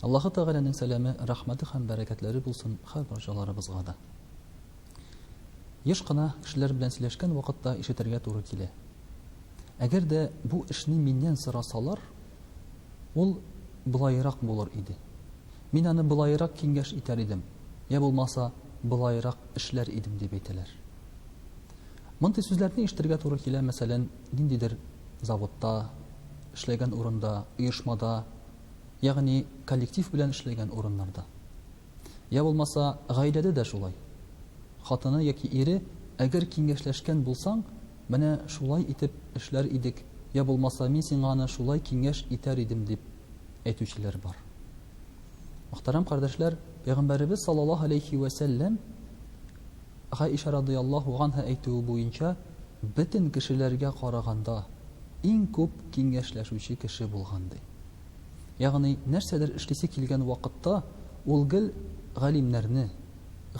Аллаһы Тәгаләнең сәламе, рәхмәте һәм бәрәкәтләре булсын һәр барчаларыбызга да. Еш кына кешеләр белән сөйләшкән вакытта ишетергә туры килә. Әгәр дә бу эшне миннән сорасалар, ул болаерак булыр иде. Мин аны болаерак киңәш итәр идем, йә булмаса, болаерак эшләр идем, дип әйтәләр. Мондый сүзләрне ишетергә туры килә, мәсәлән, Ниндидер заводта, эшләгән урында, оешмада, ягъни коллектив белән эшләгән урыннарда. Йә булмаса, гаиләдә дә шулай. Хатыны яки ире, әгәр киңәшләшкән булсаң, менә шулай итеп эшләр идек, йә булмаса, мин сиңа аны шулай киңәш итәр идем, дип әйтүчеләр бар. Мөхтәрәм кардәшләр, Пәйгамбәребез саллаллаһу галәйһи вә сәлләм Гаиша радыяллаһу ганһа әйтүе буенча, бөтен кешеләргә караганда, иң күп киңәшләшүче кеше булган, ди. Ягъни, нәрсәдер эшлисе килгән вакытта, ул гел галимнәрне,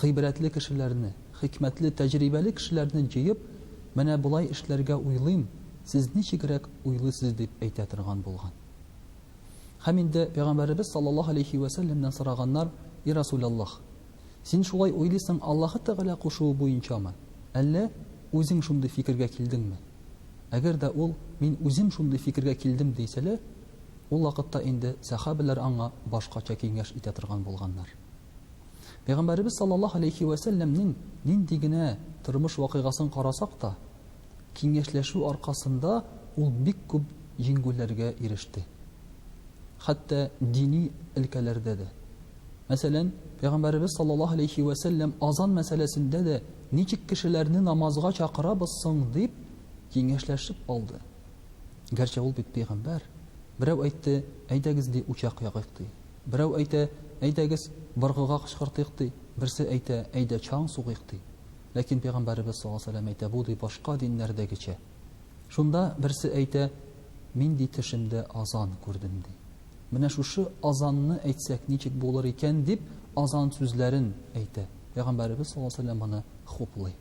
гыйбрәтле кешеләрне, хикмәтле, тәҗрибәле кешеләрне җыеп, Менә болай эшләргә уйлыйм, сез ничегрәк уйлыйсыз? дип әйтә торган булган. Һәм инде Пәйгамбәребез саллаллаһу галәйһи вә сәлләмнән сораганнар, И Расүләллаһ! Син шулай уйлыйсың Аллаһы Тәгалә кушуы буенчамы? Әллә үзең шундый фикергә килдеңме? Әгәр дә ул мин үзем шундый фикергә килдем дисәлә, ул вакытта инде сәхабәләр аңа башкача киңәш итә торган булганнар. Пәйгамбәребез саллаллаһу алейһи вә сәлләмнең нинди генә тормыш вакыйгасын карасак та, киңәшләшү аркасында ул бик күп җиңгүләргә иреште. Хәтта дини өлкәләрдә дә. Мәсәлән, Пәйгамбәребез саллаллаһу алейһи вә сәлләм азан мәсьәләсендә дә ничек кешеләрне намазга чакырабыз соң дип киңәшләшеп алды. Гәрчә ул бит пәйгамбәр. Берәү әйтте, әйдәгез ди учак ягыйк ди. Берәү әйтә, әйдәгез быргыга кычкыртыйк ди. Берсе әйтә, әйдә чаң сугыйк ди. Ләкин Пәйгамбәребез саллаллаһу алейһи вә сәлләм әйтә, бу ди башка диннәрдәгечә. Шунда берсе әйтә, Мин ди төшемдә азан күрдем, ди. Менә шушы азанны әйтсәк ничек булыр икән, дип, азан сүзләрен әйтә. Пәйгамбәребез саллаллаһу алейһи ва сәлләм моны хуплый.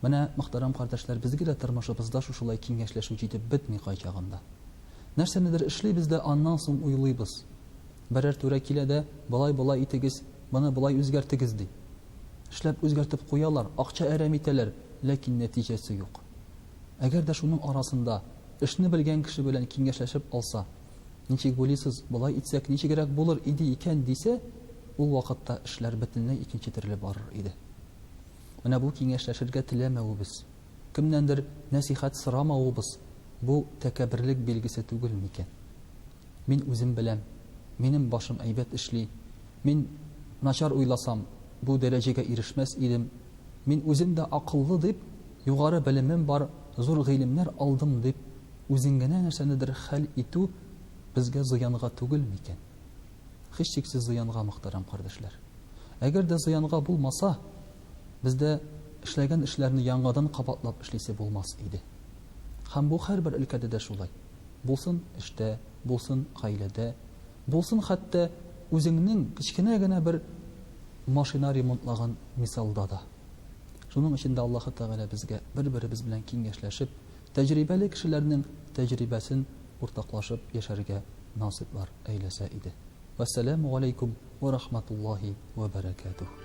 Менә, мөхтәрәм кардәшләр, безгә дә тормышыбызда шушылай киңәшләшү җитеп бетми кайчагында. Нәрсәнедер эшлибез дә аннан соң уйлыйбыз. Берәр түрә килә дә, Болай-болай итегез, моны болай үзгәртегез, ди. Эшләп үзгәртеп куялар, акча әрәм итәләр, ләкин нәтиҗәсе юк. Әгәр дә шуның арасында эшне белгән кеше белән киңәшләшеп алса, Ничек буйлыйсыз, болай итсәк ничегрәк булыр иде икән, дисә, ул вакытта эшләр бөтенләй икенче төрле барыр иде. Менә бу киңәшләшергә теләмәвебез, кемнәндер нәсыйхәт сорамавыбыз бу тәкәбберлек билгесе түгел микән? Мин үзем беләм, минем башым әйбәт эшли, мин начар уйласам, бу дәрәҗәгә ирешмәс идем, мин үзем дә акыллы дип, югары белемем бар, зур гыйлемнәр алдым дип, үзеңгенә нәрсәнедер хәл итү безгә зыянга түгел микән? Һичшиксез зыянга, мөхтәрәм кардәшләр. Әгәр дә зыянга булмаса, бездә эшләгән эшләрне яңадан кабатлап эшлисе булмас иде. Һәм бу һәрбер өлкәдә дә шулай. булсын эштә, булсын гаиләдә, булсын хәтта үзеңнең кечкенә генә бер машина ремонтлаган мисалда да. Шуның өчен дә Аллаһы Тәгалә безгә бер-беребез белән киңәшләшеп, тәҗрибәле кешеләрнең тәҗрибәсен уртаклашып яшәргә насыйплар әйләсә иде. Вәссәләмү галәйкүм вә рахматуллаһи вә бәрәкәтүһ.